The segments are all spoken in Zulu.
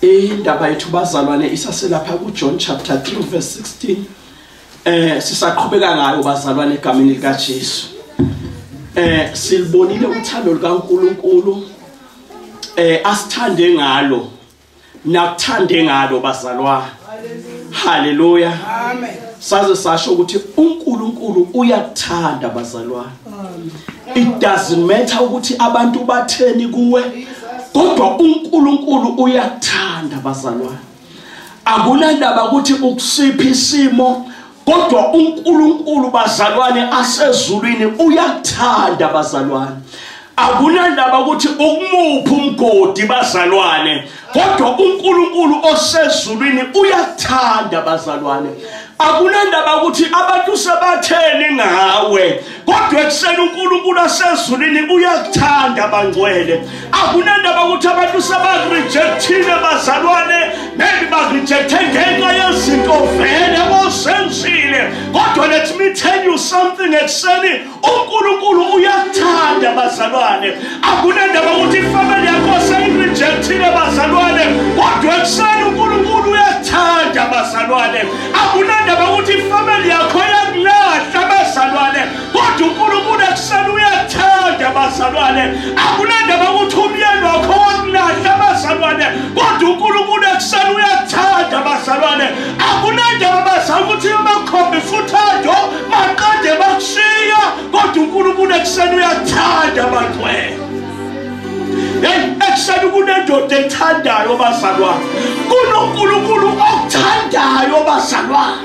Indaba yethu bazalwane isaselapha kuJohn chapter 3 verse 16. Eh sisaqhubeka ngayo bazalwane egameni likaJesu. Eh silibonile uthando likaNkuluNkulu eh asithande ngalo nakuthande ngalo bazalwane. Hallelujah. Amen. Saze sasho ukuthi uNkulunkulu uyakuthanda bazalwane. it doesn't matter ukuthi abantu batheni kuwe kodwa uNkulunkulu uyakuthanda bazalwane akunandaba ukuthi ukusiphi isimo kodwa uNkulunkulu bazalwane asezulwini uyakuthanda bazalwane akunandaba ukuthi ukumuphi umgodi bazalwane kodwa uNkulunkulu osezulwini uyathanda bazalwane akunandaba ukuthi abantu sebatheni ngawe kodwa ekuseni uNkulunkulu asezulwini uyakuthanda bangcwele akunandaba ukuthi abantu sebakurejectile bazalwane maybe bakurejecte ngenxa yezinto vele osenzile kodwa let me tell you something ekuseni uNkulunkulu uyakuthanda bazalwane akunendaba ukuthi ifamily yakho seyirejectile bazalwane kodwa ekuseni uNkulunkulu uyakuthanda bazalwane akunendaba ukuthi ifamily yakho iyakulahla bazalwane kodwa uNkulunkulu ekuseni uyakuthanda bazalwane akunendaba ukuthi umyeni wakho wakulahla bazalwane kodwa uNkulunkulu ekuseni uyakuthanda bazalwane akunendaba bazalwane ukuthi umakhombisa uthando Maqede bakushiya kodwa uNkulunkulu ekuseni uyathanda abagcwele. Hey, ekuseni kunendoda ethandayo bazalwane. KunoNkulunkulu okuthandayo bazalwane.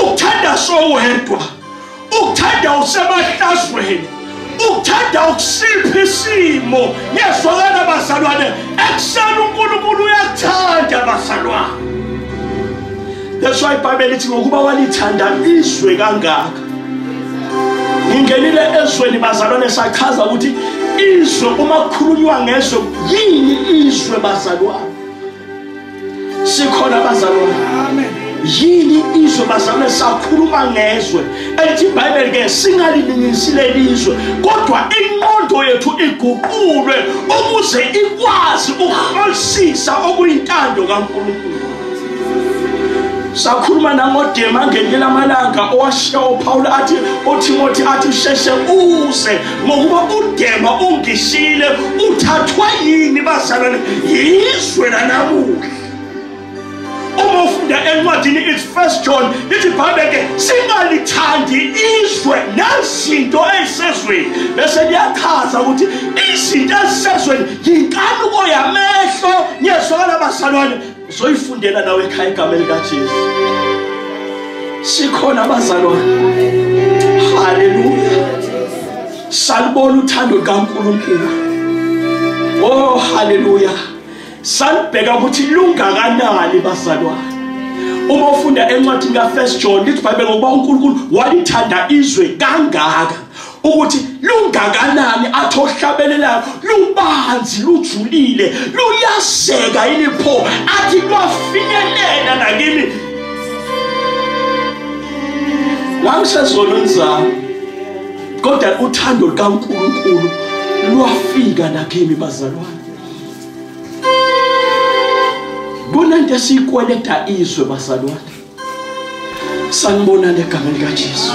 Uthanda sowedwa. ukuthanda usemahlazweni ukuthanda ukusipha isimo ngezwakala bazalwane ekuseni unkulunkulu uyakuthanda bazalwane that's why ibhayibheli lithi ngokuba walithanda izwe kangaka ngingenile ezweni bazalwane sachaza ukuthi izwe uma kukhulunywa ngezwe yini izwe bazalwane sikhona abazalwane amen yini izwe bazalwane sakhuluma ngezwe elithi ibhayibheli ke singaliningisi lelizwe kodwa inqondo yethu iguqulwe ukuze ikwazi ukuhlolisisa okuyintando kankulunkulu sakhuluma nangodema ngelinye lamalanga owashiya uphawula athi uthimothi athi sheshe uze ngokuba udema ungishile uthathwa yini bazalwane yizwe lanamuhla uma ufunda encwadini it's first john lithi ibhayibhele ke singalithandi izwe nezinto ey'sezweni bese liyachaza ukuthi izinto ezisezweni yinkanuko yamehlo niyezwakala bazalwane uzoyifundela nawe ekhaya igama likaJesu sikhona abazalwane haleluya salibona uthando lukaNkulunkulu oh haleluya salibheka ukuthi lungakanani bazalwane uma ufunda encwadini ka1 John lithi iBhayibheli ngokuba uNkulunkulu walithanda izwe kangaka ukuthi lungakanani athi ohlabelelayo lubanzi lujulile luyaseka yini pho athi kwafinyelela nakimi ngangisezona nizami kodwa uthando lukaNkulunkulu lwafika nakimi bazalwane kunento esiyikweleta izwe bazalwane sanibona legameni likaJesu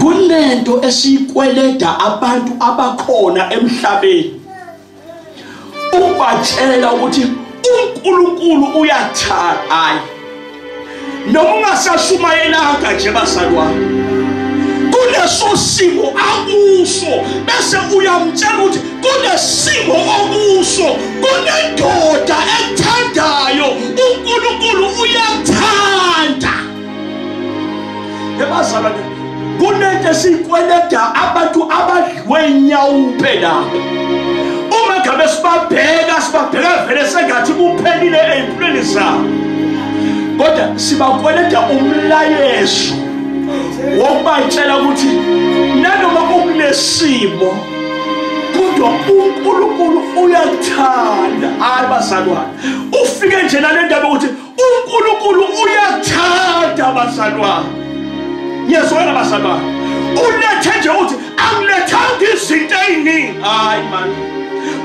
kunento esiyikweleda abantu abakhona emhlabeni ubatshela ukuthi uNkulunkulu uyathanda hayi noma ungasashumayelanga nje bazalwane kuleso simo akuso bese uyamtshela ukuthi kunesimo okuso kunendoda ekuthandayo uNkulunkulu uyathanda ebazalwane kunento esiyikweleda abantu abadliwe inyawo phela uma ngabe sibabheka sibabheka vele sengathi kuphelile ezimpilweni zabo kodwa sibakweleda umlayezo wokubatshela ukuthi nanoma kukunesimo kodwa uNkulunkulu uyakuthanda hayi bazalwane ufike nje nale ndaba ukuthi uNkulunkulu uyakuthanda bazalwane ngiyazwela bazalwane ulethe nje ukuthi angilethanga izinto eziningi hayi mani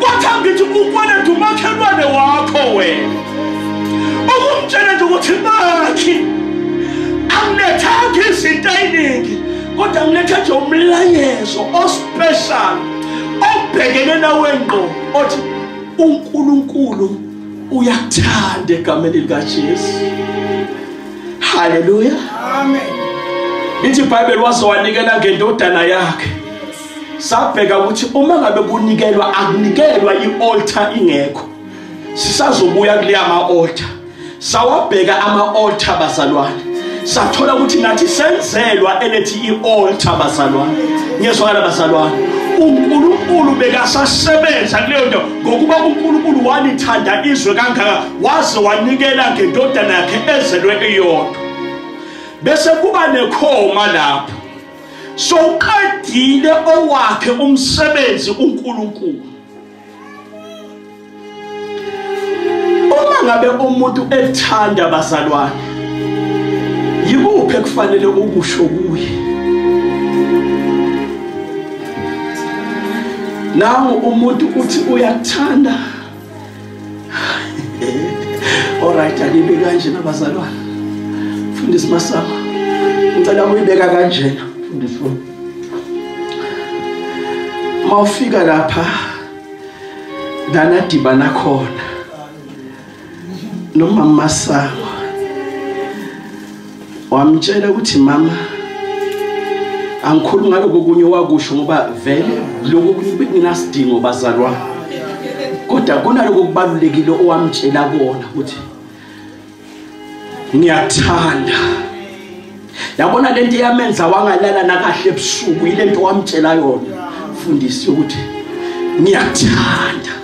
kwathi angithi ukweleta umakhelwane wakho wena ukumtshela nje ukuthi bakhi angilethanga izinto eziningi kodwa ngiletha nje umlayezo ospecial obhekene nawe ngqo othi uNkulunkulu uyakuthanda egameni likaJesu haleluya amen ithi iBhayibheli wazowanikela ngendodana yakhe sabheka ukuthi uma ngabe kunikelwa akunikelwa ialtar ingekho sisazobuya kuleya ma-altar sawabheka ama-altar bazalwane sathola ukuthi nathi senzelwa elethi i-altar bazalwane ngiyezwakala bazalwane unkulunkulu bekasasebenza kuleyo nto ngokuba unkulunkulu walithanda izwe kangaka waze wanikela ngendodana yakhe ezelwe iyodwa bese kuba nekhoma lapho sowuqedile owakhe umsebenzi unkulunkulu uma ngabe umuntu ethanda abazalwane yikuphi ekufanele ukusho kuye nawo umuntu uthi uyathanda alright angibe kanje nabazalwane fundisi masama ngicela uyibeka kanjena fundisi wami mawufika lapha lana dibana khona nomama masango wamtshela ukuthi mama angikhulumi ngaloko kunye wakusho ngoba vele lokho kuninasidingo bazalwane kodwa kunaloko kubalulekile owamtshela kona ukuthi ngiyakuthanda yabona lento iyamenza wangalala nakahle ebusuku yilento wamtshela yona mfundisi ukuthi ngiyakuthanda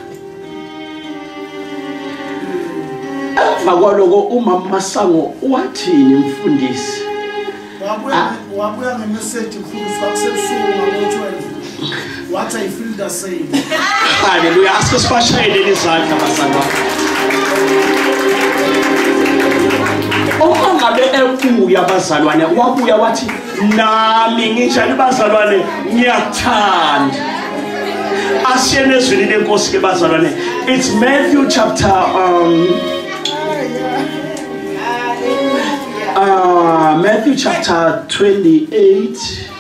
emva kwaloko umama masango wathini mfundisi wabuya ngemeseji mfundisi kwakusebusuku ngabo-12 wathi i feel the same haleluya asike sibashayelele izandla bazalwa uma ngabe ebuya abazalwane wabuya wathi nami nginjani bazalwane ngiyakuthanda asiyene ezwini lenkosi ke bazalwane it's matthew chapter um Uh, Matthew chapter 28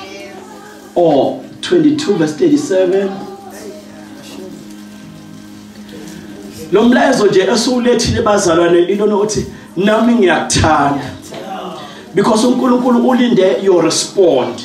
or 22 verse 37 lo mlayezo nje esiwulethile bazalwane into nokuthi nami ngiyakuthanda because uNkulunkulu ulinde your response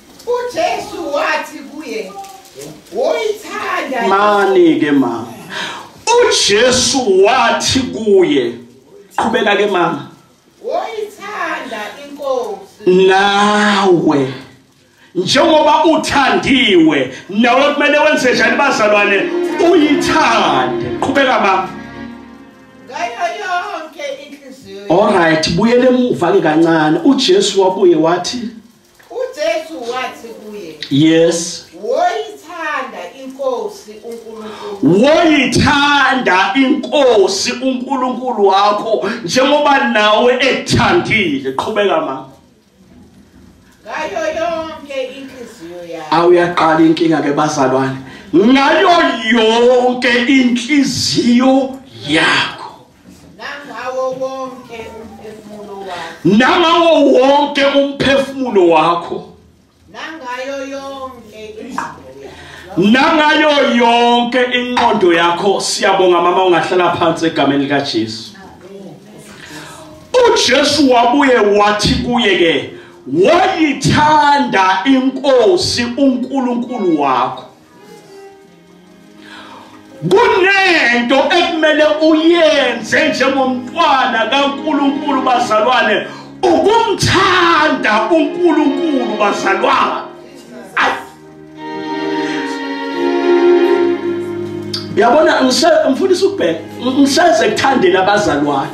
uJesu wathi kuye woyithanda mani ke mama uJesu wathi kuye qhubeka ke mama woyithanda inkosi nawe njengoba uthandiwe nawe kumele wenze njani bazalwane uyithande qhubeka mama Alright buyele emuva ke kancane uJesu wabuye wathi UJesu wathi kuye, Yes. Woyithanda inkosi uNkulunkulu. Woyithanda inkosi uNkulunkulu wakho njengoba nawe ekuthandile. Qhubeka mama. Ngayo yonke inhliziyo yakho. Awuyaqala inkinga ke bazalwane. Ngayo yonke inhliziyo yakho. nangawo wonke umphefumulo wakho nangawo wonke umphefumulo wakho nangayo yonke nangayo yonke inqondo yakho siyabonga mama ungahlala phansi egameni lika Jesu uJesu wabuye wathi kuye ke wayithanda inkosi uNkulunkulu wakho kunento ekumele uyenze njengomntwana kaNkuluNkulu bazalwane ukumthanda uNkuluNkulu bazalwane yabona ngifundisa ukubheka ngiseze kuthandela abazalwane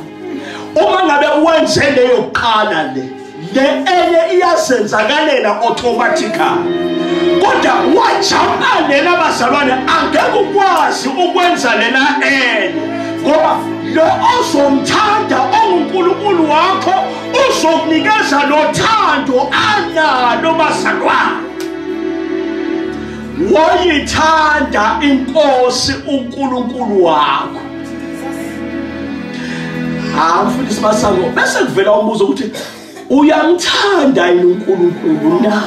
uma ngabe wenze leyo qala le le enye iyazenzakalela automatically kodwa wajama lena bazalwane angeke ukwazi ukwenza lena enye ngoba lo ozomthanda ongunkulunkulu wakho uzokunikeza lothando analo bazalwane wayithanda inkosi uNkulunkulu wakho hawu mfundisi masango bese kuvela umbuzo ukuthi uyamthanda yini uNkulunkulu na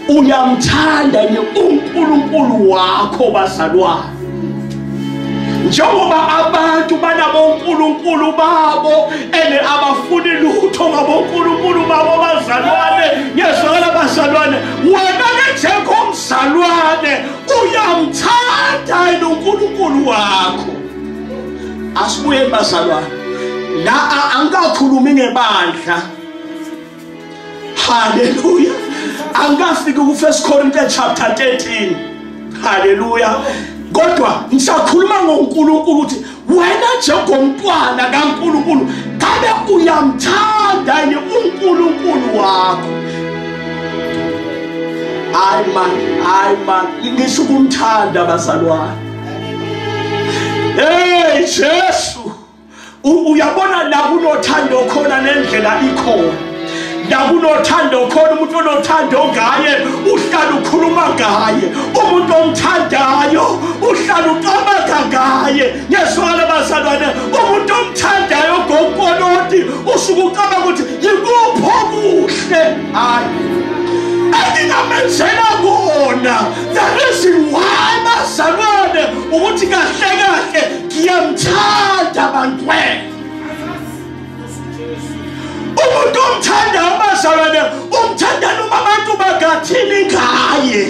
uyamthanda yini uNkulunkulu wakho bazalwane njengoba abantu banabonkulunkulu babo ene abafuni lutho ngabonkulunkulu babo bazalwane ngiyezwakala bazalwane wena ke njengomzalwane uyamthanda yena uNkulunkulu wakho asibuye bazalwane la angikakhulumi ngebandla haleluya angikafiki ku 1 Corinthians chapter 13 haleluya kodwa ngisakhuluma ngoNkulunkulu ukuthi wena njengomntwana kaNkulunkulu ngabe uyamthanda yini uNkulunkulu wakho hayi man hayi man ngisho ukumthanda bazalwane hey Jesu uyabona la kunothando khona nendlela ikhona nakunothando khona umuntu onothando ngaye uhlala ukhuluma ngaye umuntu omthandayo uhlala ucabanga ngaye ngiyezwakala bazalwane umuntu omthandayo ogokoloti usuke ucabanga ukuthi yikuphi okuhle hayi engingamenzela kona the reason why bazalwane ukuthi kahle kahle ngiyamthanda bantwena umuntu omthanda abazalwane umthanda noma abantu bakathini ngaye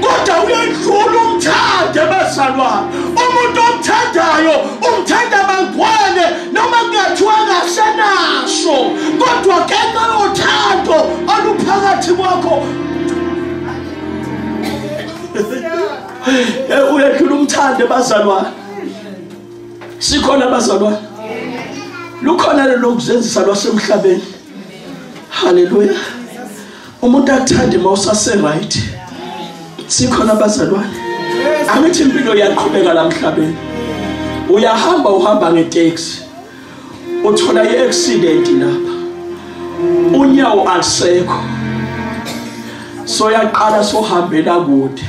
kodwa uyedlula umthanda abazalwane umuntu omthandayo umthanda bangwane noma kungathiwa kasenaso kodwa kenxa yothando oluphakathi kwakho uyedlula umthanda abazalwane sikhona bazalwane lukhona lelokuzenzisa lwasemhlabeni haleluya umuntu akuthande uma usaseright sikhona abazalwane angithi impilo iyaqhubeka la mhlabeni uyahamba uhamba ngeteksi uthola i-accident lapha unyawo alisekho soyaqala sohambela kude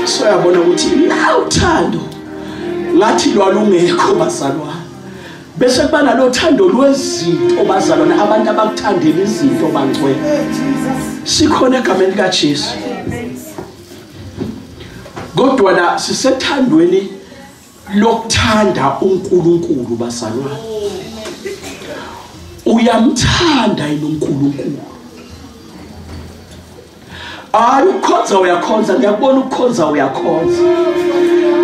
soyabona ukuthi nawuthando ngathi lwalungekho bazalwane bese kuba nalo thando lwezinto bazalwane abantu abakuthandela izinto bangcwele sikhona egameni likaJesu kodwa la sisethandweni lokuthanda uNkulunkulu bazalwane uyamthanda yini uNkulunkulu hayi ukhonza uyakhonza ngiyakubona ukukhonza uyakhonza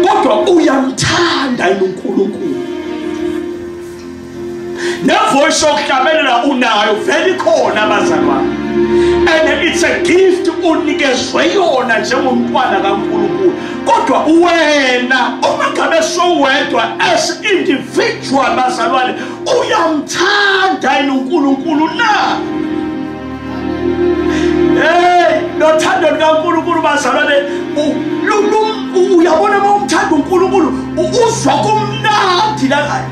kodwa uyamthanda yini uNkulunkulu nevoice yokuhlabelela unayo vele ikhona abazalwane and it's a gift unikezwe yona njengomntwana kaNkulunkulu kodwa wena uma ngabe sowedwa as individual bazalwane uyamthanda yini uNkulunkulu na hey nothando lukaNkulunkulu bazalwane uyabona uma umthanda uNkulunkulu uzwa kumnandi la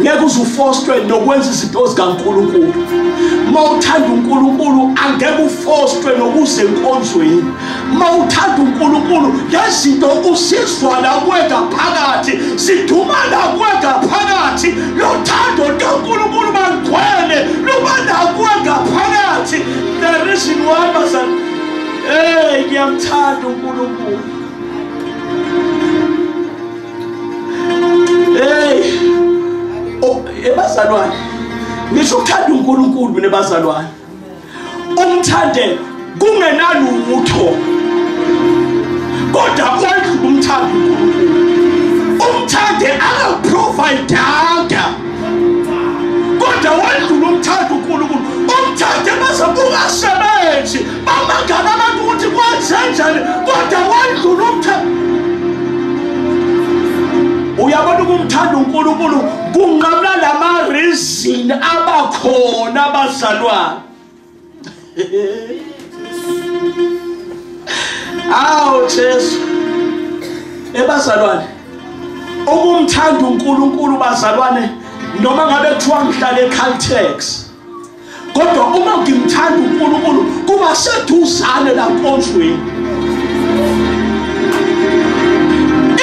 ngeke uze ufostwe nokwenza izinto zikaNkulunkulu uma uthanda uNkulunkulu angeke ufostwe nokuze enkonzweni uma uthanda uNkulunkulu ngezinto usizwa nakuwe ngaphakathi siduma nakuwe ngaphakathi lothando lukaNkulunkulu malugcwele luba nakuwe ngaphakathi the reason why bazan hey ngiyamthanda uNkulunkulu hey oh, ebazalwane ngisho ukuthanda uNkulunkulu mina bazalwane umthande kungenalutho kodwa kwendlula umthando uNkulunkulu umthande akaprovidanga kodwa wendlula umthando uNkulunkulu umthande bazobukasebenzi Bamangala abantu ukuthi kwenzenjani kodwa wadlula umthetho. Uyabona ukumthanda uNkulunkulu kunqamla lama reason abakhona abazalwane. Awu Jesu. Ebazalwane. Ukumthanda uNkulunkulu bazalwane noma ngabe kuthiwa ngihlale eCaltex. kodwa uma ngimthanda uNkulunkulu kuba seduzane la nkonzweni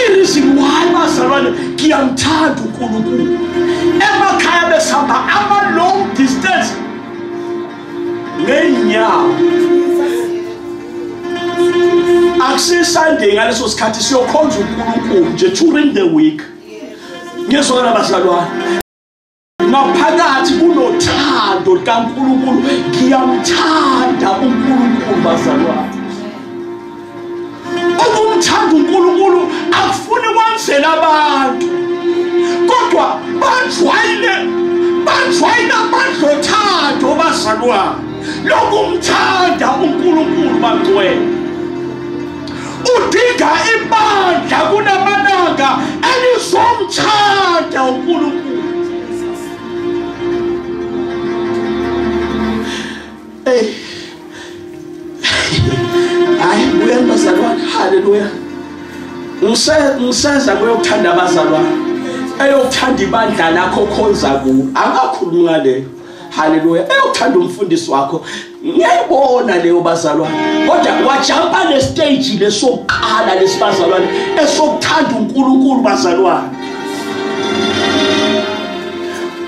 ireason why bazalwane ngiyamthanda uNkulunkulu emakhaya besihamba ama long distance ngeenyawo akusisunday ngaleso sikhathi siyokhonza uNkulunkulu nje during the week ngiyezwakala bazalwane ngaphakathi kunothando likaNkulunkulu ngiyamthanda uNkulunkulu bazalwane ukumthanda uNkulunkulu akufuni kwenzela abantu kodwa bajwayile bajwayile abantu othando bazalwane lokumthanda uNkulunkulu bangcwele udinga ibandla kunamalanga elizomthanda uNkulunkulu hey hayi buya bazalwane haleluya ngise ngiseza kuyokuthanda abazalwane eyokuthanda ibandla lakho khonza ku angakhulumi ngaleyo haleluya eyothanda umfundisi wakho ngiyayibona leyo bazalwane kodwa wajampa le stage lesokuqala lesibazalwane esokuthanda uNkulunkulu bazalwane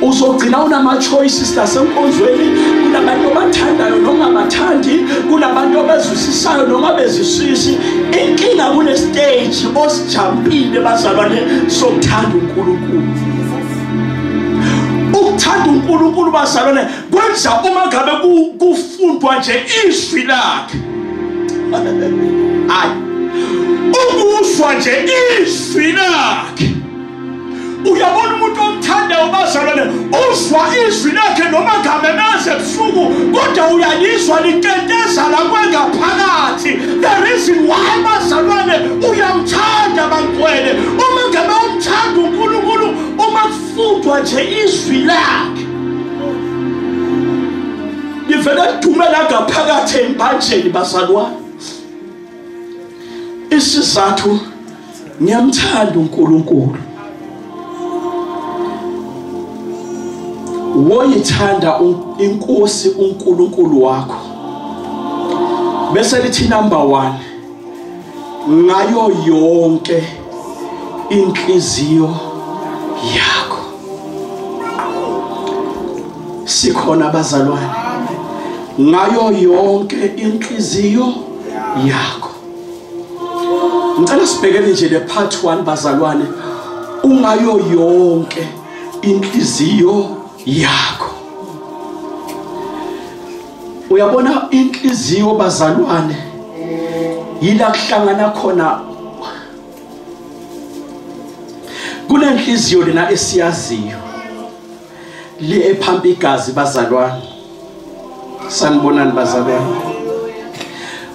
uzogcina unama choices nasenkonzweni kunabantu abathandayo noma abathandi kunabantu abazwisisayo noma bezisisi inkinga kune stage osijampile bazalwane sokuthanda uNkulunkulu ukuthanda uNkulunkulu bazalwane kwenza uma ngabe kufundwa nje izwi lakhe hayi ukuzwa nje izwi lakhe uyabona umuntu omthandayo bazalwane uzwa izwi lakhe noma ngamemeze ebusuku kodwa uyalizwa liteteza la kwengaphakathi the reason why bazalwane uyamthanda bantwele uma ngabe Thanda uNkulunkulu uma kufundwa nje izwi lakhe. Ngivele dume la ngaphakathi embanjeni bazalwane. Isizathu ngiyamthanda uNkulunkulu. woyithanda inkosi uNkulunkulu wakho bese lithi number 1 ngayo yonke inhliziyo yakho sikhona abazalwane ngayo yonke inhliziyo yakho ngicela sibhekele nje le part 1 bazalwane ungayo yonke inhliziyo yakho uyabona inhliziyo bazalwane yila kuhlangana khona kunenhliziyo lena esiyaziyo le ephampa igazi bazalwane sanibonani bazalwane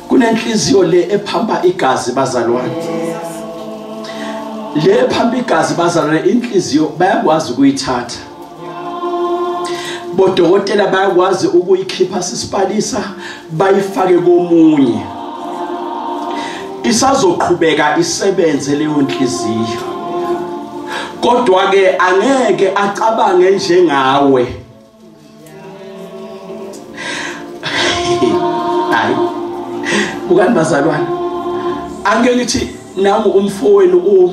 kunenhliziyo le ephampa igazi bazalwane le ephampa igazi bazalwane inhliziyo bayakwazi ukuyithatha bodokotela bayakwazi ukuyikhipha sisipalisa bayifake komunye isazoqhubeka isebenze leyo nhliziyo kodwa ke angeke acabange njengawe hayi bukani bazalwane angeke ngithi nangu umfowenu u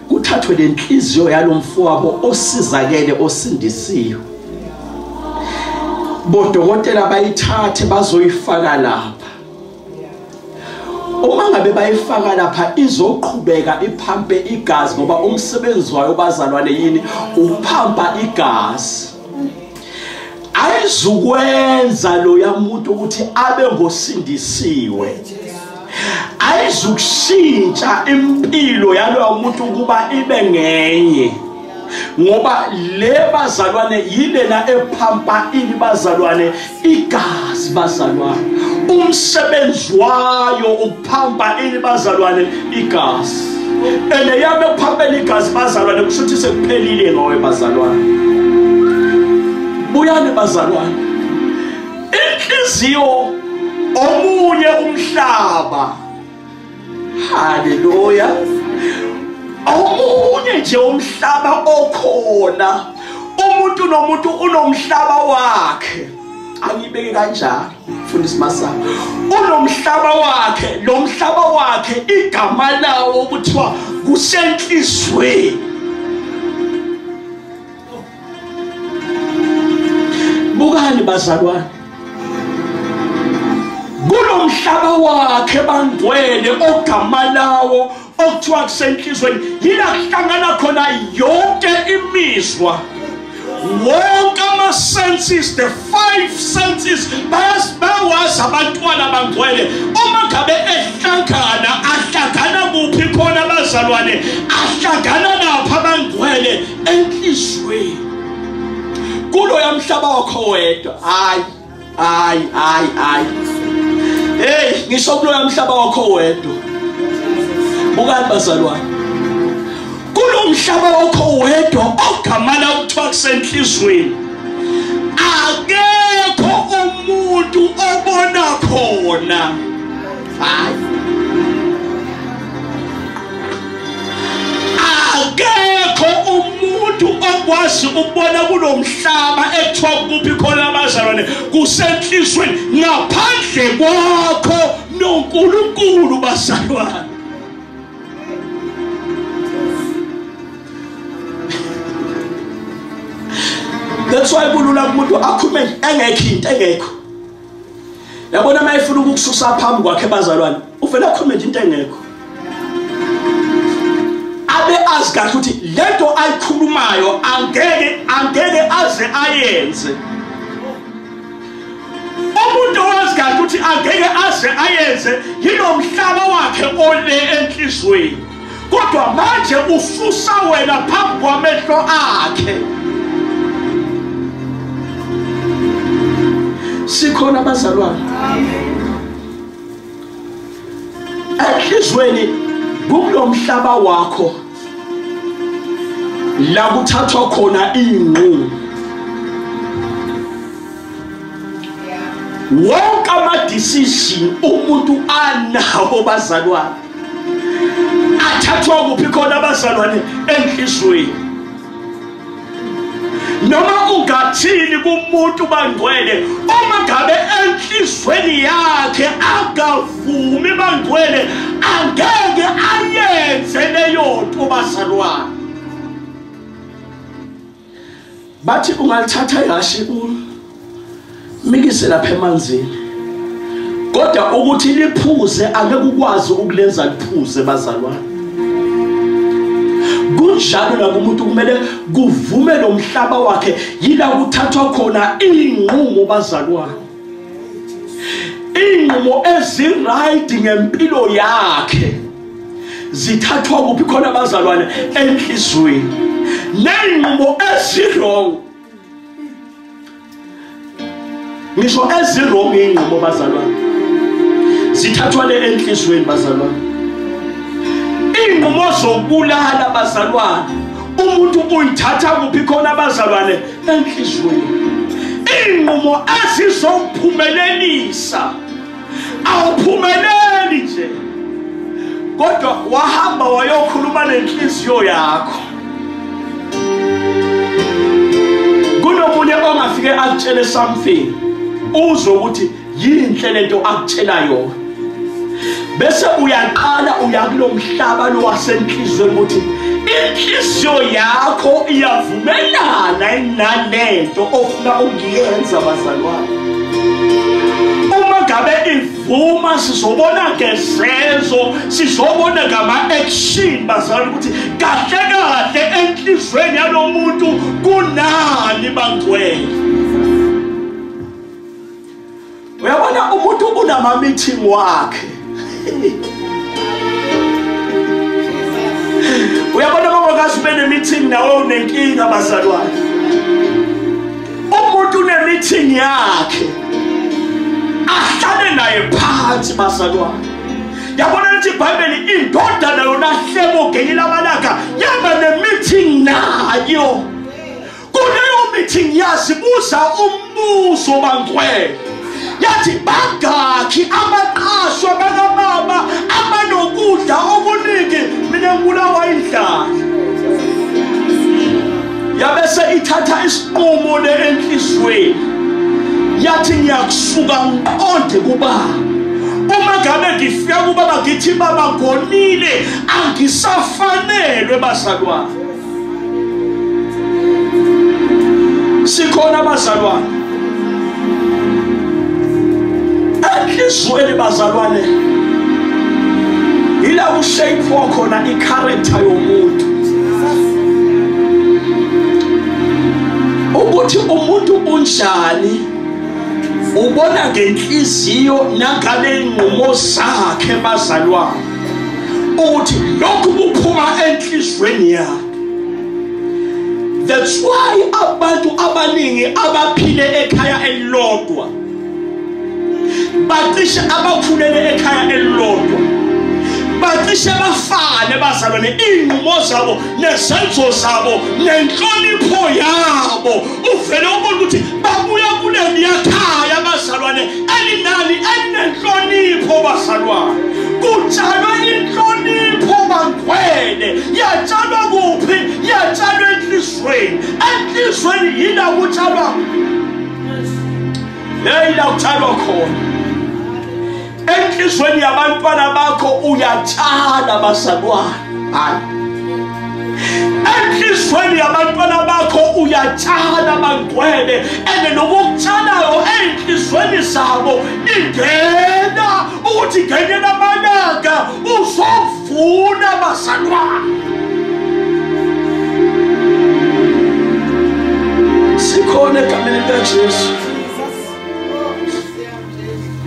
kuthathwe le nhliziyo yalo mfowabo osizakele osindisiwe bodokotela bayithathe bazoyifaka lapha uma ngabe bayifaka lapha izoqhubeka iphampe igazi ngoba umsebenzi wayo bazalwane yini uphampa igazi ayizukwenza loya muntu ukuthi abe ngosindisiwe ayizukushintsha impilo yaloya muntu ukuba ibe ngenye ngoba le bazalwane yilena ephampa ini bazalwane igazi bazalwane umsebenzi wayo ukuphamba ini bazalwane igazi and eyame kuphambela igazi bazalwane kusho ukuthi sekuphelile ngowe bazalwane buyani bazalwane inhliziyo omunye umhlaba haleluya omunye nje umhlaba okhona umuntu nomuntu unomhlaba wakhe angibeke kanjalo fundisa masana unomhlaba wakhe lo mhlaba wakhe igama lawo kuthiwa kusenhlizweni bukani bazalwane kulomhlaba wakhe bangcwele ogama lawo okuthiwa kusenhlizweni yila kuhlangana khona yonke imizwa wonke ama-senses the five senses bayawazi abantwana bangcwele uma ngabe ehlangana ahlangana kuphi khona abazalwane ahlangana naphi abangcwele enhlizweni kulo yamhlaba wakho wedwa hayi hayi hayi hayi hey ngisho kulo yamhlaba wakho wedwa bukani bazalwane kulo mhlaba wakho wedwa ogamana ukuthiwa kusenhlizweni akekho umuntu obona khona akekho umuntu okwazi ukubona kulo mhlaba ekuthiwa kuphi khona abazalwane kusenhlizweni ngaphandle kwakho nonkulunkulu bazalwane that's why kulula kumuntu akhume engekho into engekho yabona uma efuna ukukususa phambi kwakhe bazalwane uvele akhulume nje into engekho abe azi kahle ukuthi lento ayikhulumayo angeke angeke aze ayenze umuntu owazi kahle ukuthi angeke aze ayenze yinomhlaba wakhe ole enhlizweni kodwa manje ususa wena phambi kwamehlo akhe sikhona abazalwane enhlizweni kulo mhlaba wakho la kuthathwa khona iy'nqumo wonke ama-decision umuntu anawo bazalwane athathwa kuphi khona abazalwane enhlizweni noma ungathini kumuntu bangcwele uma ngabe enhlizweni yakhe akavumi bangcwele angeke ayenze leyo nto bazalwane bathi ungalithatha ihhashi umikise lapha emanzini kodwa ukuthi liphuze angeke ukwazi ukulenza liphuze bazalwane kunjalo nakumuntu kumele kuvume lo mhlaba wakhe yila kuthathwa khona iy'nqumo bazalwane iy'nqumo ezirayidi ngempilo yakhe zithathwa kuphi khona abazalwane enhliziyweni ney'nqumo ezirong ngisho ezirong iy'nqumo bazalwane zithathwa le enhliziyweni bazalwane iy'nqumo zokubulala bazalwane umuntu uyithatha kuphi khona abazalwane enhliziyweni iinqumo ezizowuphumelelisa awuphumeleli nje kodwa wahamba wayokhuluma nenhliziyo yakho kunomunye ongafike akutshele something uzwe ukuthi yinhle lento akutshela yona bese uyaqala uya kulomhlaba lo wasenhlizweni ukuthi inhliziyo yakho iyavumelana nalento ofuna ukuyenza bazalwane uma ngabe ivuma sizobona ngezenzo sizobona ngama-action bazalwane ukuthi kahle kahle enhlizweni yalo muntu kunani bangcwele uyabona umuntu unama meeting wakhe uyabona mama kazi ube nemeeting nawe unenkinga bazalwane umuntu unemeeting yakhe ahlale naye phansi bazalwane yabona lithi ibhayibheli indodana yona hlebo ngenye lamalanga yaba nemeeting nayo kuleyo meeting yazibuza umbuzo bangcwele yathi bangakhi amaqasho bakamama abanokudla okuningi mina ngibulawa indlala yabese ithatha isinqumo le enhliziyweni yathi ngiyakusuka ngiqonde kubaba uma ngabe ngifika kubaba ngithi baba ngonile angisafanelwe bazalwane sikhona abazalwane enhlizweni bazalwane yila kushape wakhona i-character yomuntu ukuthi umuntu unjani ubona ngenhliziyo nangabe inqumo zakhe bazalwane ukuthi lokhu kuphuma enhlizweni yakhe that's why abantu abaningi abaphile ekhaya elilodwa bacishe abakhulele ekhaya elilodwa bacishe bafane bazalwane iy'nqumo zabo nezenzo zabo nenhlonipho yabo uvele ubona ukuthi babuya kuleliyakhaya bazalwane elinani elinenhlonipho bazalwane kutshalwe inhlonipho bangcwele yatshalwa kuphi yatshalwa enhlizweni enhlizweni yila kutshalwa yeyila kutshalwa khona enhlizweni yabantwana bakho uyatshala bazalwane hayi enhlizweni yabantwana bakho uyatshala bangcwele ene nokukutsalayo enhlizweni zabo ingena ukuthi ngenye lamalanga uzovuna bazalwane sikhona egameni likajesu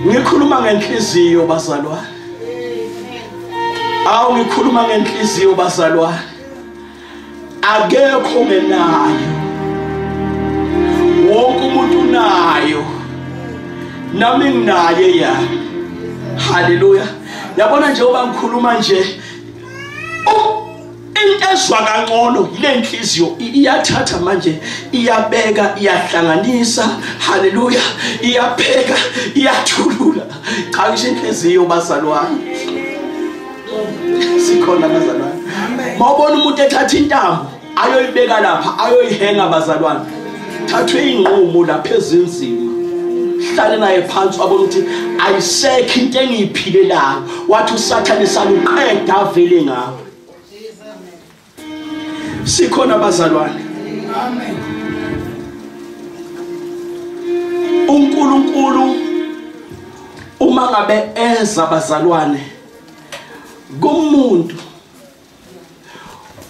ngikhuluma ngenhliziyo bazalwane awu ngikhuluma ngenhliziyo bazalwane akekho ngenayo wonke umuntu unayo nami nginaye ya haleluya yabona njengoba ngikhuluma nje into ezwa kangcono yile nhliziyo iyathatha manje iyabeka iyahlanganisa haleluya iyapheka iyathulula cha ngisho inhliziyo bazalwane sikhona bazalwane mawubona umuntu ethatha intambo ayoyibeka lapha ayoyihenga bazalwane thathwe inqumo lapha ezinzima hlale naye phansi wabona ukuthi ayisekho into engiyiphilelayo wathi usathane saluqeda avele ngawo sikhona abazalwane amen uNkulunkulu uma ngabe eza abazalwane kumuntu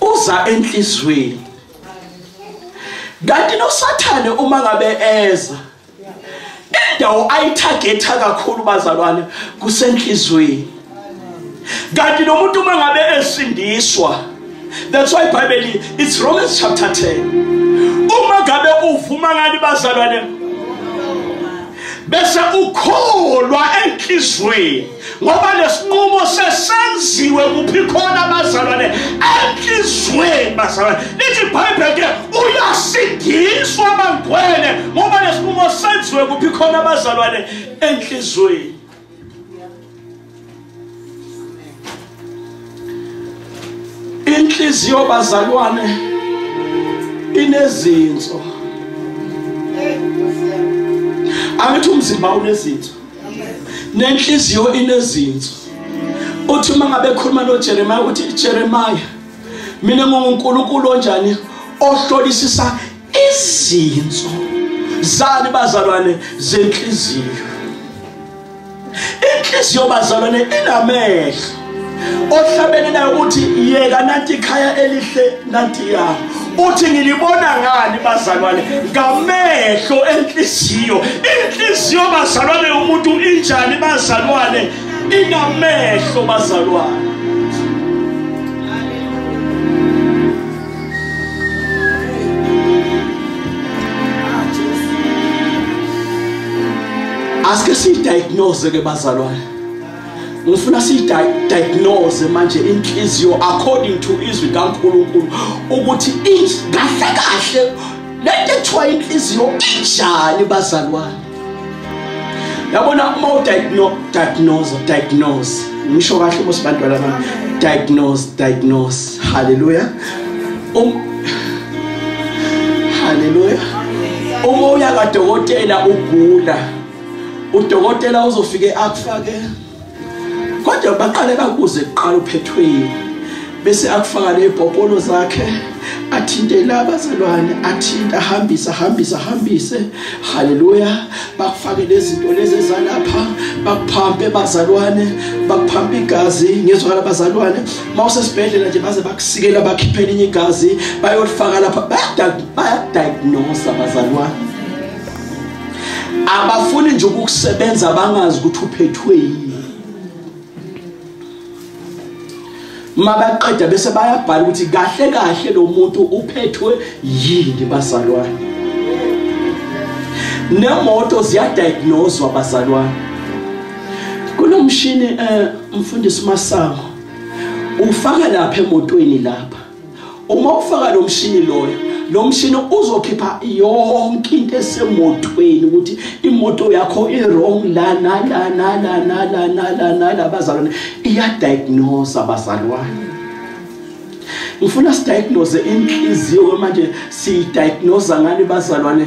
uza enhlizweni kanti nosathane uma ngabe eza indawo ayithagetha kakhulu bazalwane kusenhlizweni kanti nomuntu uma ngabe esindiswa that's why bible it's romans chapter 10 uma ngabe uvuma ngani bazalwane bese ukholwa enhlizweni ngoba lesinqumo sesenziwe kuphi khona abazalwane enhlizweni bazalwane lithi ibhayibheli ke uyasindiswa bangcwele ngoba lesinqumo senziwe kuphi khona abazalwane enhlizweni inhliziyo bazalwane inezinso angithi umzimba unezinso nenhliziyo inezinso uthi uma ngabe khuluma noJeremiah uthi Jeremiah mina nginguNkulunkulu onjani ohlolisisa izinso zani bazalwane zenhliziyo inhliziyo bazalwane inamehlo ohlabene nayo ukuthi yeka nanti ikhaya elihle nanti ya uthi ngilibona ngani bazalwane ngamehlo enhliziyo inhliziyo bazalwane yomuntu injani bazalwane inamehlo bazalwane asike siyidiagnose ke bazalwane ngifuna siyidiagnose manje inhliziyo according to izwi kaNkulunkulu ukuthi kahle kahle lento ethiwa inhliziyo injani bazalwane yabona uma udiagnose diagnose ngisho kahle uma sibantwana bami diagnose diagnose haleluya um haleluya uma uya kadokotela ugula udokotela uzofike akufake kodwa baqale bakuze kuqala uphethweni bese akufaka lezibhobholo zakhe athinte laba zalwane athinte ahambise ahambise ahambise haleluya bakufake lezinto lezi ezalapha bakuphampe bazalwane bakuphampe igazi ngizwa labazalwane mawusesibhedlela nje baze bakusikela bakhiphe elinye igazi bayolifaka lapha bayadiagnose abazalwane abafuni nje ukukusebenza bangazi ukuthi uphethwe yini mabaqeda bese bayabhala ukuthi kahle kahle lo muntu uphethwe yini bazalwane nemoto ziyadiagnoswa bazalwane kunomshini eh mfundisi masango ufaka lapha emotweni lapha uma ufaka lo mshini loyo lo mshini uzokhipha yonke into esemotweni ukuthi imoto yakho i-wrong lana lana lana lana lana labazalwane iyadiagnose abazalwane ngifuna sidiagnose inhliziyo manje siyidiagnosa ngani bazalwane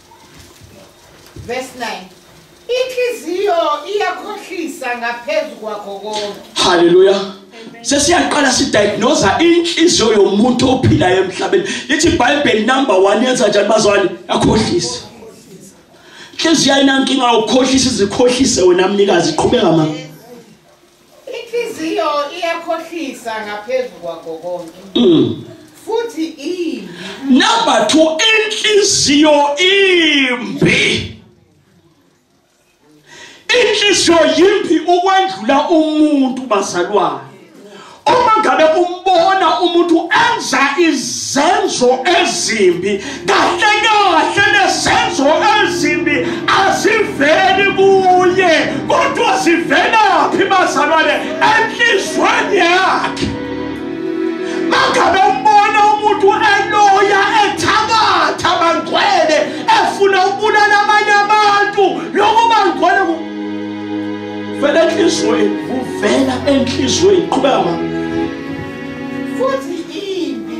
Verse 9. Inhliziyo iyakhohlisa ngaphezu kwakho konke. Hallelujah. sesiyaqala sidiagnose inhliziyo yomuntu ophilayo emhlabeni lithi ibhayibheli number 1 yenza njani bazwane yakhohlisa inhliziyo ayinankinga ukhohlisa izikhohlise wena mnikazi qhubeka mama Inhliziyo iyakhohlisa ngaphezu kwakho konke. Mm. Futhi imbi. Number 2 inhliziyo imbi. Inhliziyo yimbi ukwendlula umuntu bazalwane. Uma ngabe umbona umuntu enza izenzo ezimbi kahle kahle nesenzo ezimbi aziveli kuye kodwa zivelaphi bazalwane enhlizweni yakhe mangabe umbona umuntu eloya ethakatha bangcwele efuna ukubulala abanye abantu lokho bangcwele vela enhlizweni kuvela enhlizweni qhubeka mama futhi imbi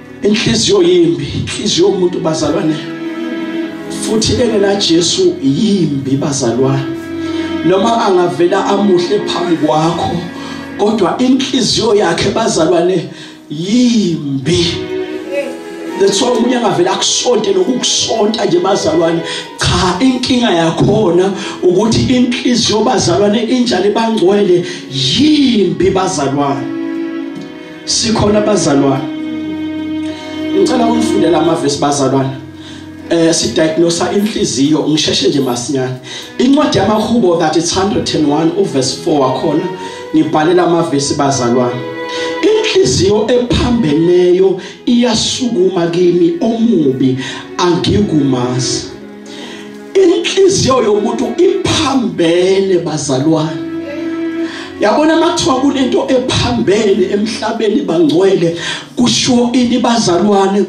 inhliziyo yimbi inhliziyo yomuntu bazalwane futhi engena Jesu yimbi bazalwane noma angavela amuhle phambi kwakho kodwa inhliziyo yakhe bazalwane yimbi that's why umuntu angavele akusonte nokukusonta nje bazalwane cha inkinga yakhona ukuthi inhliziyo bazalwane injani bangcwele yimbi bazalwane sikhona abazalwane ngicela ukufundela amavesi bazalwane eh sidiagnose inhliziyo ngisheshe nje masinyane incwadi yamahubo that it's 101 uverse 4 wakhona ngibhalela amavesi bazalwane inhliziyo ephambeneyo iyasukuma kimi omubi angikumazi inhliziyo yomuntu iphambene bazalwane yabona mathiwa kunento ephambene emhlabeni bangcwele kusho ini bazalwane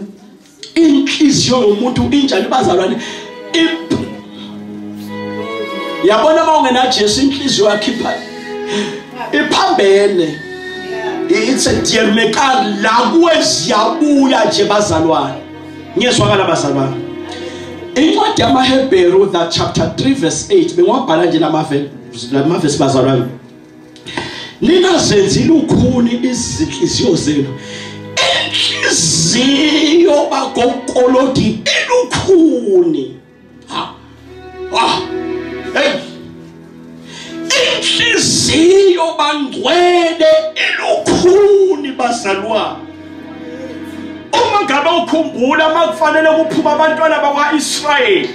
inhliziyo yomuntu injani bazalwane yabona uma ungena Jesu inhliziyo yakhe iphambene it's a dear mekar la kuwe siyabuya nje bazalwane ngiyezwakala bazalwane incwadi yamaHebheru the chapter 3 verse 8 bengiwabhala nje lamavesi lamavesi bazalwane nina zenzi lukhuni izinhliziyo zenu inhliziyo bakokolodi elukhuni inhliziyo bangcwele elukhuni bazalwane uma ngabe ukhumbula uma kufanele kuphuma abantwana bakwa-israyeli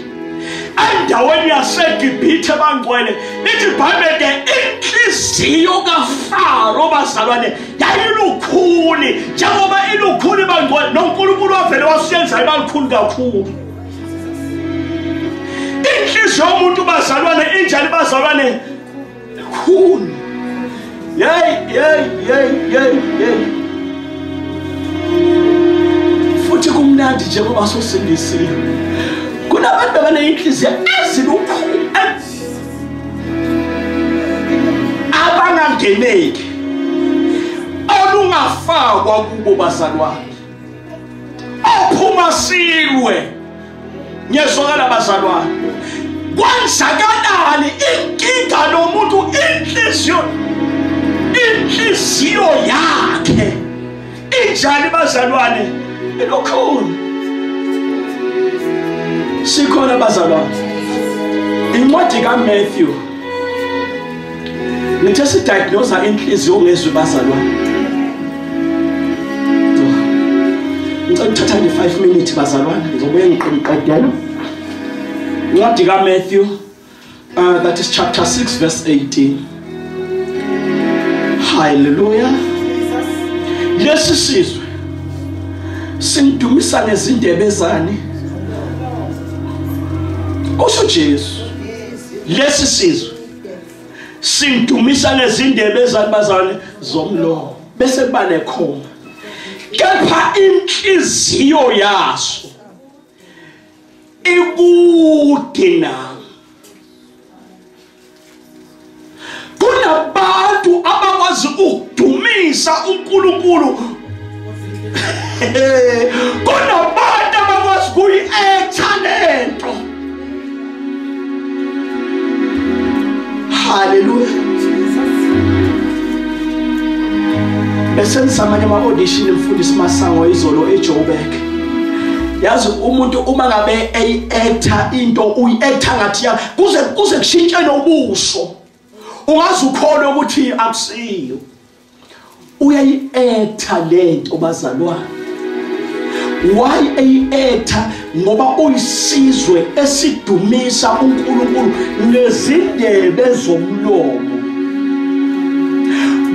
endaweni yasegibhithe bangcwele lithi ibhayibhele inhliziyo kafaro bazalwane yayilukhuni njengoba ilukhuni bangcwele nonkulunkulu wavele wasiyenza ibalukhuni kakhulu inhliziyo yomuntu bazalwane injani bazalwane khulu yeyi yeyi yeyi yeyi yeyi futhi kumnandi njengoba sosindisiwe kunabantu abaneyinhliziyo ezilukhulu abangangeneki olungafakwa kubo bazalwane ophuma silwe ngiyezwakala bazalwane kwenzakalani inkinga nomuntu inhliziyo inhliziyo yakhe injani bazalwane elokhulu sikhona bazalwane incwadi kaMatthew ngithe sidiagnosa inhliziyo ongezwe bazalwane ngicela uthatha nje 5 minutes bazalwane ngizobuye ngiqedela incwadi kaMatthew uh, that is chapter 6 verse 18 hallelujah lesi sizwe simdumisa ngezindebe zani kusho Jesu lesi sizwe simdumisa ngezindebe ezalibazane zomlomo bese kuba nekhoma kepha inhliziyo yaso ikude nami kunabantu abakwazi ukudumisa uNkulunkulu kunabantu abakwazi kuyi-etha lento haleluya besenza amanye ama-audition mfundisi masango izolo ejoburg yazi umuntu uma ngabe eyi-etha into uyi-etha ngathi kuze kuze kushintshe nobuso ungaze ukhole ukuthi akusiyo uyayi-etha le nto bazalwane why eyi-etha ngoba uyisizwe esidumisa unkulunkulu nezindebe zomlomo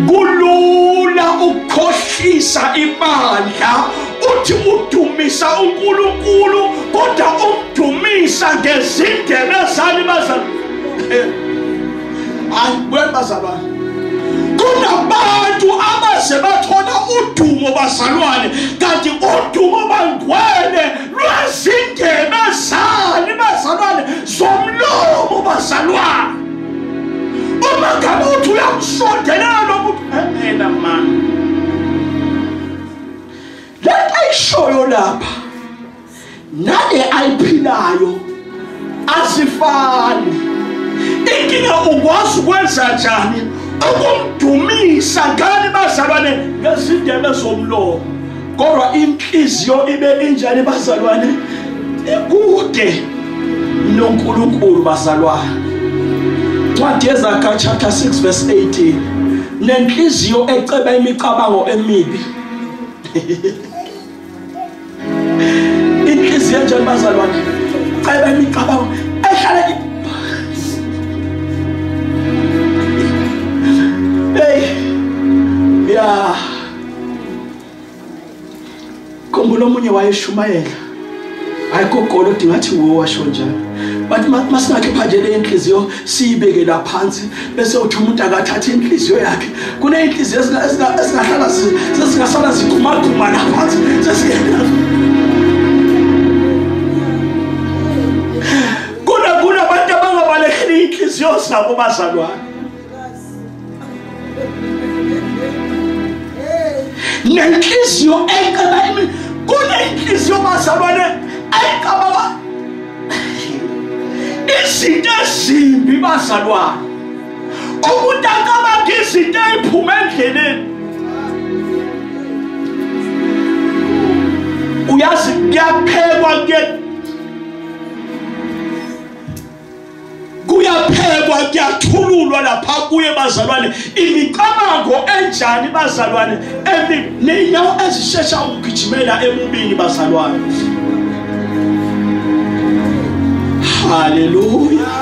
kulula ukukhohlisa ibandla uthi udumisa uNkulunkulu kodwa umdumisa ngezindebe zani bazalwane eh, hayi buyani bazalwane kunabantu abaze bathola udumo bazalwane kanti udumo bangcwele lwezindebe zani bazalwane zomlomo bazalwane uma ngabe uthi uyamsondelela lomuntu eh, mina mani lento ayishoyo lapha nale ayiphilayo asifani inkinga ukwazi ukwenza njani ukumdumisa ngani bazalwane ngezindebe zomlomo kodwa inhliziyo ibe injani bazalwane ikude noNkulunkulu bazalwane ncwadi yezakha chapter 6 verse 18 nenhliziyo eceba imicabango emibi inhliziyo enjani bazalwane ceba imicabango ehlala hey yeah khumbula omunye wayeshumayela hayi kogolo dingathi wo washo njalo but masingakhipha nje le nhliziyo siyibeke la phansi bese uthi umuntu akathathe inhliziyo yakhe kuney'nhliziyo ezingahlala sezingasala zigumaguma la phansi kunabantu abangabalekeli iy'nhliziyo zabo bazalwane nenhliziyo eqaba imini kunenhliziyo bazalwane eqaba ba izinto ezimbi bazalwane umuntu akabanga izinto eziphuma endleleni uyazi kuyaphekwa kuye kuyaphekwa kuyathululwa lapha kuye bazalwane imicabango enjani bazalwane ney'nyawo ezishesha ukugijimela emubini bazalwane haleluya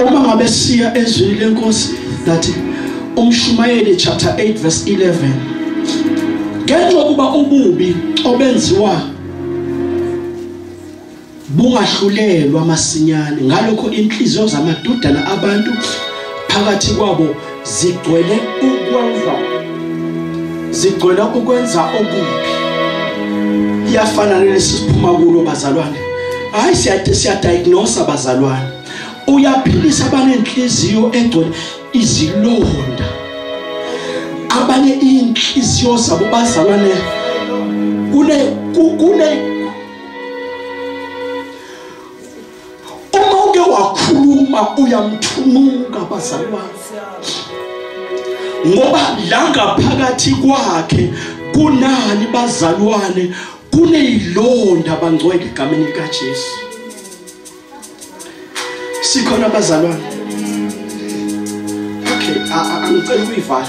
uma ngabe siya ezwini lenkosi that umshumayeli chapter 8 verse 11 ngenxa ukuba ububi obenziwa bungahlulelwa masinyane ngalokho inhliziyo zamadodana abantu phakathi kwabo zigcwele ukwenza zigcwele ukwenza okubi iyafana nalesi siphuma kulo bazalwane hayi siyade siyadiagnose abazalwane uyaphilisa abanenhliziyo egcwele izilonda abanye inhliziyo zabo bazalwane kune kune uma uke wakhuluma uyamthumuka bazalwane ngoba la ngaphakathi kwakhe kunani bazalwane kuneyilonda bangcwele egameni likaJesu sikhona bazalwane okay angicela uyivala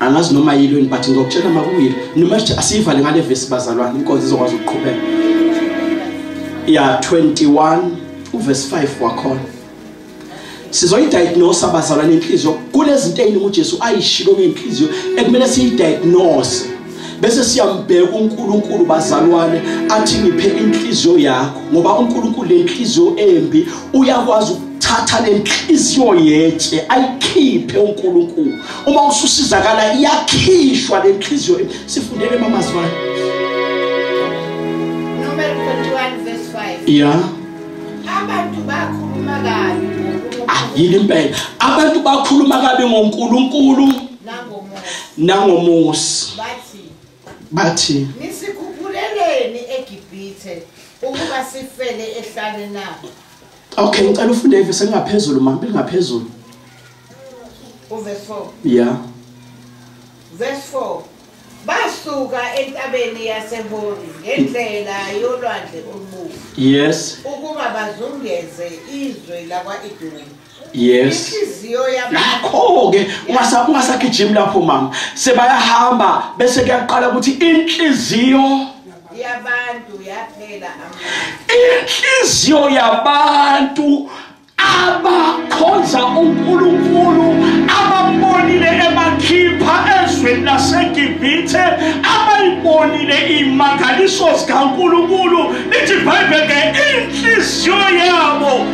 angazi noma yilo yini but ngizokutshela uma kuyilo noma sithi asiyivale ngale vesi bazalwane inkonzo izokwazi ukuqhubeka ya 21 uvesi 5 wakhona sizoyidiagnose abazalwane inhliziyo kunezinto eziningi uJesu ayishilo ngenhliziyo ekumele siyidiagnose bese siyambheka uNkulunkulu bazalwane athi ngiphe inhliziyo yakho ngoba uNkulunkulu lenhliziyo embi uyakwazi ukuthatha lenhliziyo yetshe ayikhiphe uNkulunkulu uma ususizakala iyakhishwa lenhliziyo sifundele mamazwana number 21 verse 5 yeah abantu bakhuluma kabi ah yini impela abantu bakhuluma kabi ngoNkulunkulu nangomusi bathi nisikhuphuleleni egibhithe ukuba sifele ehlane na okay ngicela ufunde ivesi elingaphezulu mama elingaphezulu uverse 4 yeah verse 4 basuka entabeni yasehori ngendlela yolwandle olubomvu yes ukuba bazungeze izwe lakwa-edomi yes nakho-ke ungasagijimi lapho mama sebayahamba bese kuyaqala ukuthi inhliziyo inhliziyo yabantu abakhonza uNkulunkulu ababonile emakhipha ezweni laseGibhithe abayibonile imangaliso zikaNkulunkulu lithi iBhayibheli inhliziyo yabo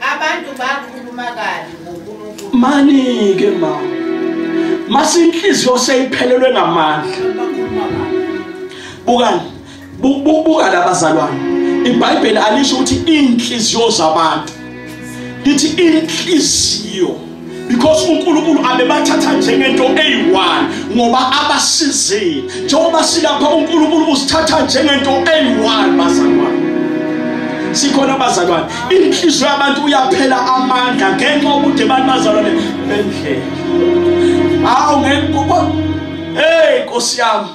Abantu bakhuluma kabi ngoNkulunkulu. Mani ke ma. Masinhliziyo seyiphelelwe ngamandla. Bukani. Buka labazalwane. IBhayibheli alisho ukuthi inhliziyo zabantu. Lithi inhliziyo because uNkulunkulu abebathatha njengento eyi-1 ngoba abasizile njengoba silapha uNkulunkulu usithatha njengento eyi-1 bazalwane sikhona abazalwane inhliziyo yabantu uyaphela amandla ngenxa yokude abantu bazalwane bendlela awu ngeke hey nkosi yami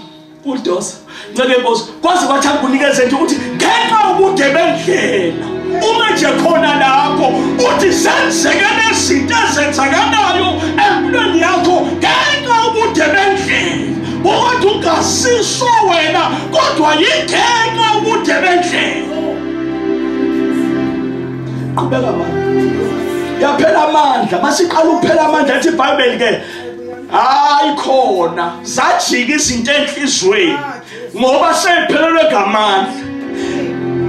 udosa nceke nkosi kwaze kwathi akunikeze nje ukuthi ngenxa ubude bendlela uma nje khona lapho uthi senzeke nezinto ezenzakalayo empilweni yakho ngenxa ubude bendlela ukuthi ungasiso wena kodwa yingenxa ubude bendlela qhubeka manje yaphela amandla masiqala ukuphela amandla ethi ibhayibheli ke hayi khona zajika izinto enhlizweni ngoba sephelelwe ngamandla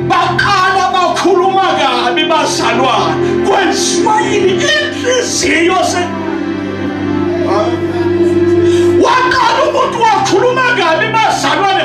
baqala bakhuluma kabi bazalwana kwenziwa yini inhliziyo se waqala umuntu wakhuluma kabi bazalwane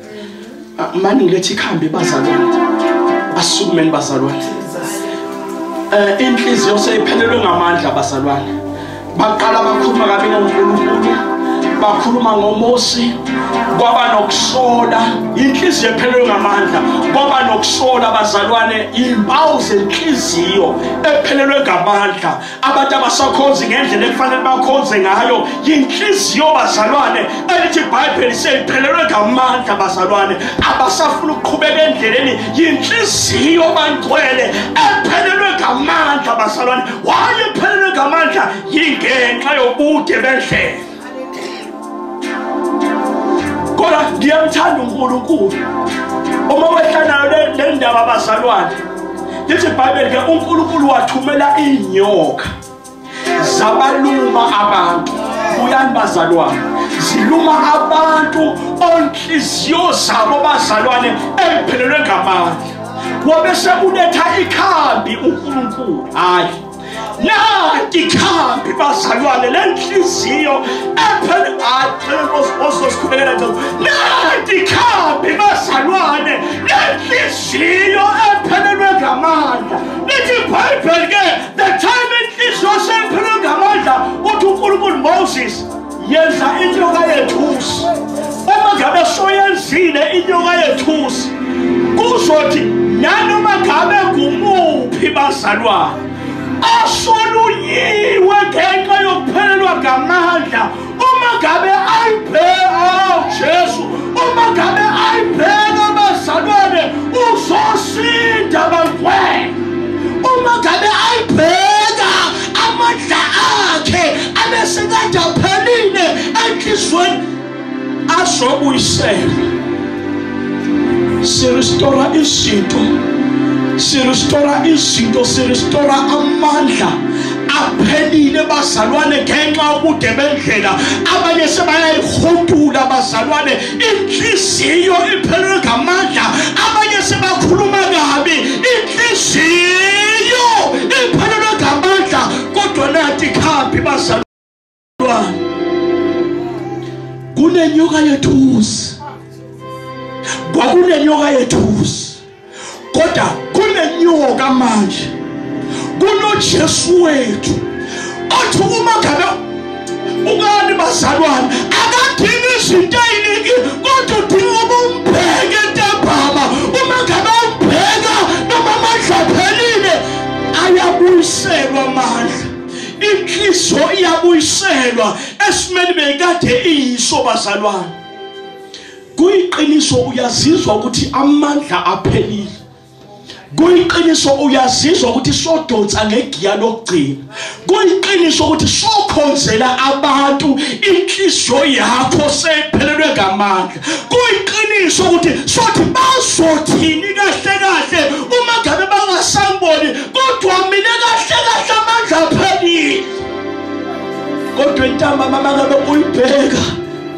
mani ngilethi ikhambe bazalwane asukumeni bazalwane eh inhliziyo seyiphelelwe ngamandla bazalwane baqala bakhuluma kabi ngoNkulunkulu bakhuluma ngoMosi kwaba nokusola inhliziyo ephelelwe ngamandla kwaba nokusola bazalwane impawu zenhliziyo ephelelwe ngamandla abantu abasakhonzi ngendlela ekufanele bakhonze ngayo yinhliziyo bazalwane elithi ibhayibheli seliphelelwe ngamandla bazalwane abasafuna ukuqhubeka endleleni yinhliziyo bangcwele ephelelwe ngamandla bazalwane wayephelelwe ngamandla yingenxa yobude bendlela kodwa ngiyamthanda unkulunkulu uma wehlanayo le ndaba abazalwane lithi ibhayibheli ke unkulunkulu wathumela iinyoka zabaluma abantu buyani bazalwane ziluma abantu onhliziyo zabo bazalwane emphelelwe ngamandla wabe sekunetha ikhambi unkulunkulu hhayi nanti khambi bazalwane le nhliziyo ephen atleososikhubekela nto nanti khambi bazalwane le nhliziyo ephelelwe ngamandla lithi ibhayibheli ke the time inhliziyo sephelelwe ngamandla uthi unkulunkulu moses yenza inyoka yethusi uma ngabe soyenzile inyoka yethusi kuzothi nanoma ngabe kumuphi bazalwane asolunyiwe ngenxa yokuphelelwa ngamandla uma ngabe ayibheka oh, jesu uma ngabe ayibheka bazalwane uzosinda bantwana uma ngabe ayibheka amandla akhe abesekade aphelile enhliziyweni azobuyisela siristora izinto siristora izinto siristora amandla aphelile bazalwane ngenxa ubude bendlela abanye sebayayihudula bazalwane inhliziyo iphelelwe ngamandla abanye sebakhuluma kabi inhliziyo iphelelwe ngamandla kodwa nathi khambi bazalwane kunenyoka yethusi kwakunenyoka yethusi kodwa kunenyoka manje kunoJesu wethu othi uma ngabe ukani bazalwane akadingi izinto eziningi kodwa udinga ukumbheke ntambama uma ngabe umbheka noma amandla aphelile ayabuyiselwa amandla inhliziyo iyabuyiselwa esimeni bekade iyiso bazalwane kuyiqiniso uyazizwa ukuthi amandla aphelile kuyiqiniso uyazizwa ukuthi sodonsa ngegiya lokugcina kuyiqiniso ukuthi sokhonzela abantu inhliziyo yakho sephelelwe ngamandla kuyiqiniso ukuthi sothi bazothini kahle kahle uma ngabe bangasamboni kodwa mina kahle kahle amandla aphelile kodwa intambama mangabe uyibheka